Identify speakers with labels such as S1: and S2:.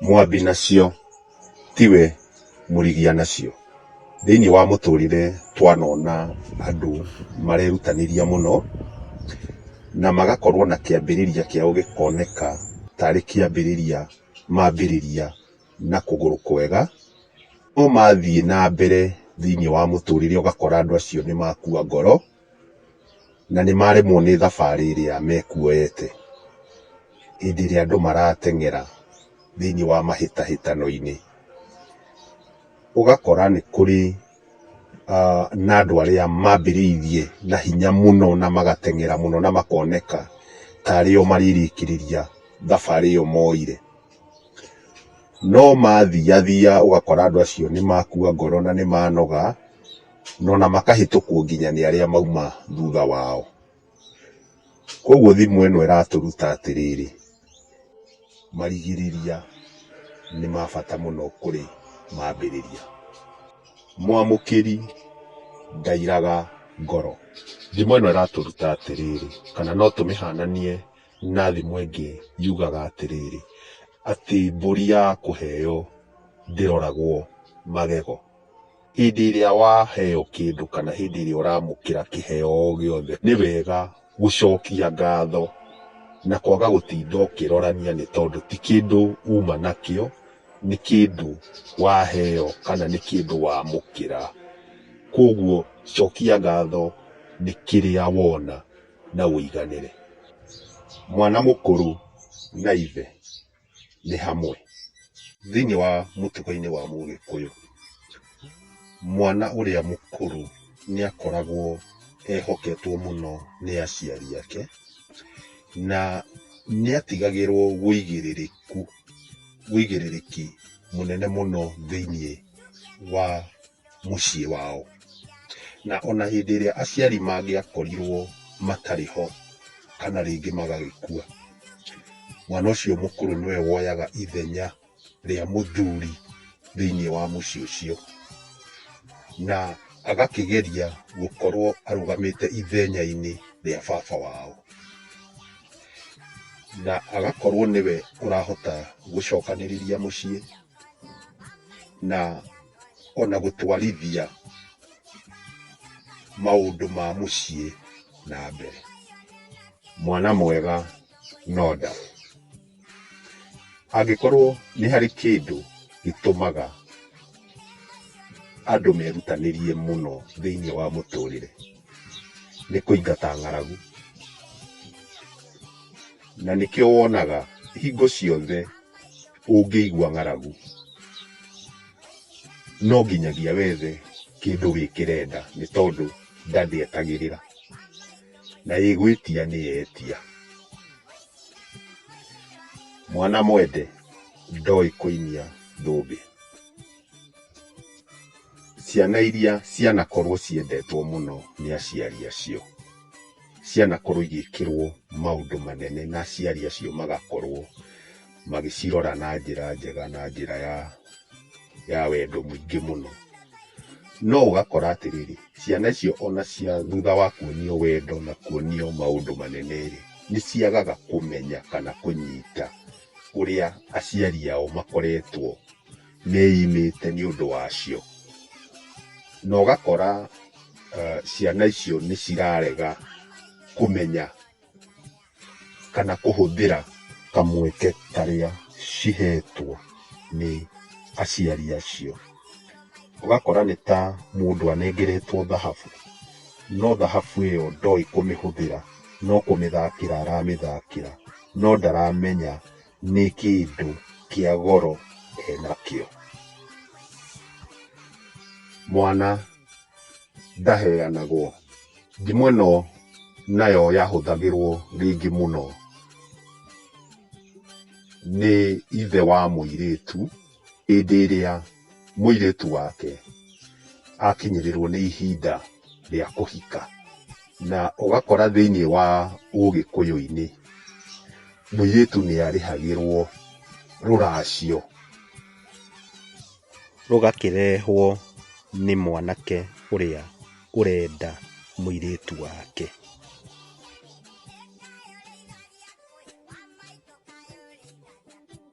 S1: Mwambi nacio tiwe mũrigia nacio. Thĩinĩ wa mũtũrĩre twanona andũ marerutanĩria mũno na magakorwo na kĩambĩrĩria kĩao gĩkoneka tarĩ kĩambĩrĩria mambĩrĩria na kũgũrũ kwega, no mathiĩ na mbere thĩinĩ wa mũtũrĩre ũgakora andũ acio nĩ makua ngoro. na nĩ maremwo nĩ thabarĩ ĩrĩa mekuoete hĩndĩ ĩrĩa andũ marateng'era thĩiniĩ wa mahĩtahĩtano-inĩ. Ũgakora nĩ kũrĩ na andũ arĩa mambĩrĩirie na hinya mũno na magateng'era mũno na makoneka tarĩ o marĩrĩkĩrĩria thabarĩ ĩyo moire. No mathiathia ũgakora andũ acio nĩ makua ngoro na nĩ manoga. no na makahĩtũkwo nginya nĩ arĩa mauma thutha wao. Koguo thimũ ĩno ĩratũruta atĩrĩrĩ, marigĩrĩria nĩ ma bata mũno kũrĩ mambĩrĩria. Mwamũkĩri ndairaga ngoro. Thimũ ĩno ĩratũruta atĩrĩrĩ, kana no tũmĩhananie na thimũ ĩngĩ yugaga atĩrĩrĩ, atĩ mbũri ya kũheo ndĩroragwo magego. Hĩndĩ ĩrĩa waheo kĩndũ kana hĩndĩ ĩrĩa ũramũkĩra kĩheo o gĩothe, nĩ wega gũcokia ngatho na kwaga gũtinda ũkĩrorania nĩ tondũ ti kĩndũ uma nakĩo, nĩ kĩndũ waheo kana nĩ kĩndũ wamũkĩra. Kwoguo cokia ngatho nĩ kĩrĩa wona na ũiganĩre. Mwana mũkũrũ na ithe nĩ hamwe. Thĩinĩ wa mũtugo-inĩ wa mũgĩkũyũ, mwana ũrĩa mũkũrũ nĩ akoragwo ehoketwo mũno nĩ aciari ake, na nĩ atigagĩrwo ũigĩrĩrĩku, ũigĩrĩrĩki mũnene mũno thĩinĩ wa. mũciĩ wao. Na ona hĩndĩ ĩrĩa aciari mangĩakorirwo matarĩ ho kana rĩngĩ magagĩkua, mwana ũcio mũkũrũ nĩwe woyaga ithenya rĩa mũthuri thĩinĩ wa mũciĩ ũcio. Na agakĩgeria gũkorwo arũgamĩte ithenya-inĩ rĩa baba wao. Na agakorwo nĩwe ũrahota gũcokanĩrĩria mũciĩ. na ona gũtwarithia maũndũ ma mũciĩ na mbere. Mwana mwega no nda. Angĩkorwo nĩ harĩ kĩndũ gĩtũmaga andũ merutanĩrie mũno thĩinĩ wa mũtũrĩre nĩ kũingata ng'aragu. Na nĩkĩo wonaga hingo ciothe... ũngĩigua ng'aragu no nginyagia wethe kĩndũ wĩkĩre nda nĩ tondũ nda ndĩetagĩrĩra. Na ĩgwĩtia nĩ yetia. Mwana mwende ndoĩ kũinia thũmbĩ. Ciana iria cianakorwo ciendetwo mũno nĩ aciari acio, cianakorwo igĩkĩrwo maũndũ manene na aciari acio magakorwo magĩcirora na njĩra njega na njĩra ya ya wendo mũingĩ mũno. No ũgakora atĩrĩrĩ, ciana icio ona cia thutha wa kuonio wendo na kuonio maũndũ manene-rĩ, nĩ ciagaga kũmenya kana kũnyita ũrĩa aciari ao makoretwo meimĩte nĩ ũndũ wacio. Na ũgakora ciana icio nĩ cirarega kũmenya. kana kũhũthĩra kamweke karĩa cihetwo nĩ aciari acio. Ũgakora nĩ ta mũndũ anengeretwo thahabu, no thahabu ĩyo ndoĩ kũmĩhũthĩra, no kũmĩthakĩra aramĩthakĩra, no ndaramenya Nĩ kĩndũ kĩa goro enakĩo. Mwana ndaheanagwo. Ndimũ ĩno nayo yahũthagĩrwo rĩngĩ mũno nĩ ithe wa mũirĩtu. Hĩndĩ ĩrĩa mũirĩtu wake akinyĩrĩrwo nĩ ihinda rĩa kũhika, na ũgakora thĩiniĩ wa ũgĩkũyũ-inĩ, mũirĩtu nĩ arĩhagĩrwo rũracio, rũgakĩrehwo nĩ mwanake ũrĩa ũrenda mũirĩtu wake.